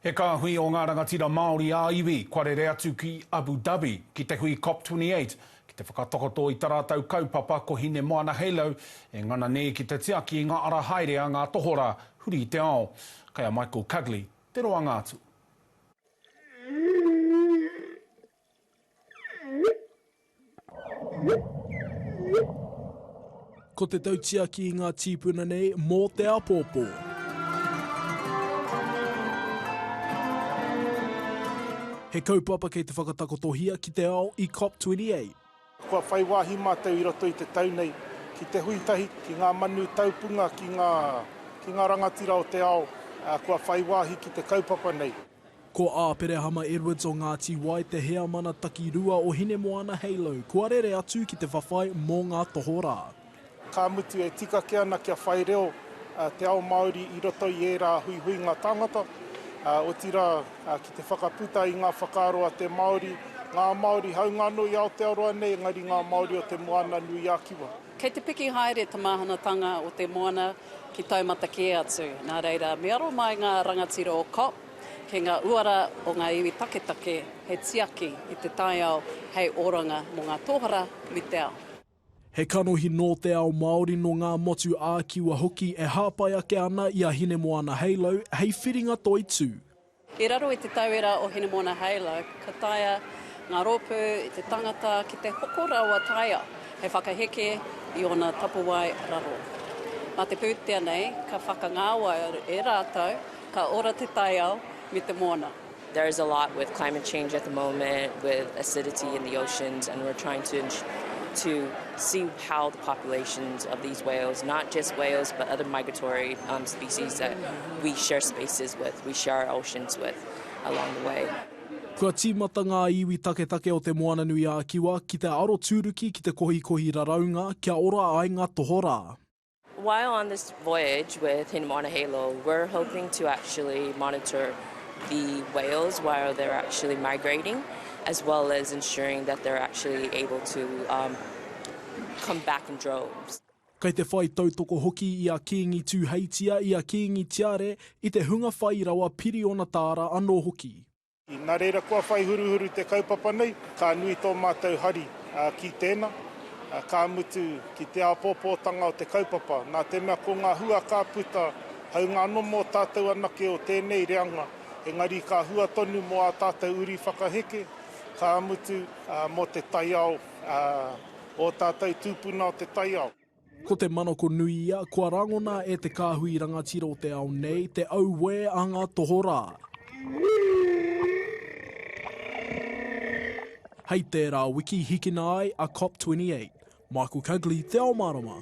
He kāhui o ngā rangatira Māori ā-iwi kua rere atu ki Abu Dhabi ki te hui COP28 ki te whakatakoto i ta rātou kaupapa ko Hinemoana Halo e ngana nei ki te tiaki i ngā ara haere a ngā tohorā huri i te ao. Kei a Michael Cugley te roanga atu. Ko te tautiaki i ngā tīpuna nei mō te apōpō. He kaupapa kei te whakatakotohia ki te ao i COP28. Kua whai wāhi mātou i roto i te tau nei ki te hui tahi ki ngā manu taupunga, ki ngā, ki ngā rangatira o te ao, ā, kua whai wāhi ki te kaupapa nei. Ko Āperehama Edwards o Ngāti Wai te heamana takirua o Hinemoana Halo kua rere atu ki te whawhai mō ngā tohorā. Ka mutu e tikake ana kia whai reo te ao Māori i roto i ērā huihuinga tāngata, otirā ki te whakaputa i ngā whakaaro a te Māori, ngā Māori hāunga anō i Aotearoa nei, engari ngā Māori o Te Moana-nui-a-Kiwa. Kei te piki haere te māhanatanga o te moana ki taumata kē atu, nā reira me aro mai ngā rangatira o COP ki ngā uara o ngā iwi taketake hei tiaki i te taiao hei oranga mō ngā tōhara me te ao. He kanohi nō te ao Māori, nō ngā motu ā-Kiwa hoki e hāpai ake ana i a Hinemoana Halo hei whiringa toitū. I raro i te tauira o Hinemoana Halo, ka taea ngā rōpū i te tangata ki te hoko rawa taea hei whakaheke i ōna tapuwae raro. Mā te pūtea nei ka whakangāwai e rātou ka ora te taiao me te moana. There is a lot with climate change at the moment with acidity in the oceans and we're trying to to see how the populations of these whales, not just whales but other migratory um, species that we share spaces with, we share our oceans with along the way. Kua tīmata ngā iwi taketake o Te Moananui-a-Kiwa ki te arotūruki ki te kohikohi raraunga kia ora ai ngā tohorā. While on this voyage with Hina Moana Halo, we're hoping to actually monitor the whales while they're actually migrating, as well as ensuring that they're actually able to um, come back in droves. Kei te whai tautoko hoki i a Kīngi Tūheitia, i a Kīngi Tiare, i te hunga whai rawa piriona tāra anō hoki. Nā reira kua whai huruhuru te kaupapa nei, ka nui tō mātou hari ki tēnā, ka mutu ki te āpōpōtanga o te kaupapa, nā te mea ko ngā hua ka puta, hāunga anō mō tātou anake o tēnei reanga, engari ka hua tonu mō ā tātou uri whakaheke, ka mutu mō te taiao, ō tātou tūpuna o te taiao. Ko te manako nui ia, kua rangona e te kāhui rangatira o te ao nei te auē a ngā tohorā. Hei tērā wiki hikina ai a COP28. Michael Cugley, Te Ao Mārama.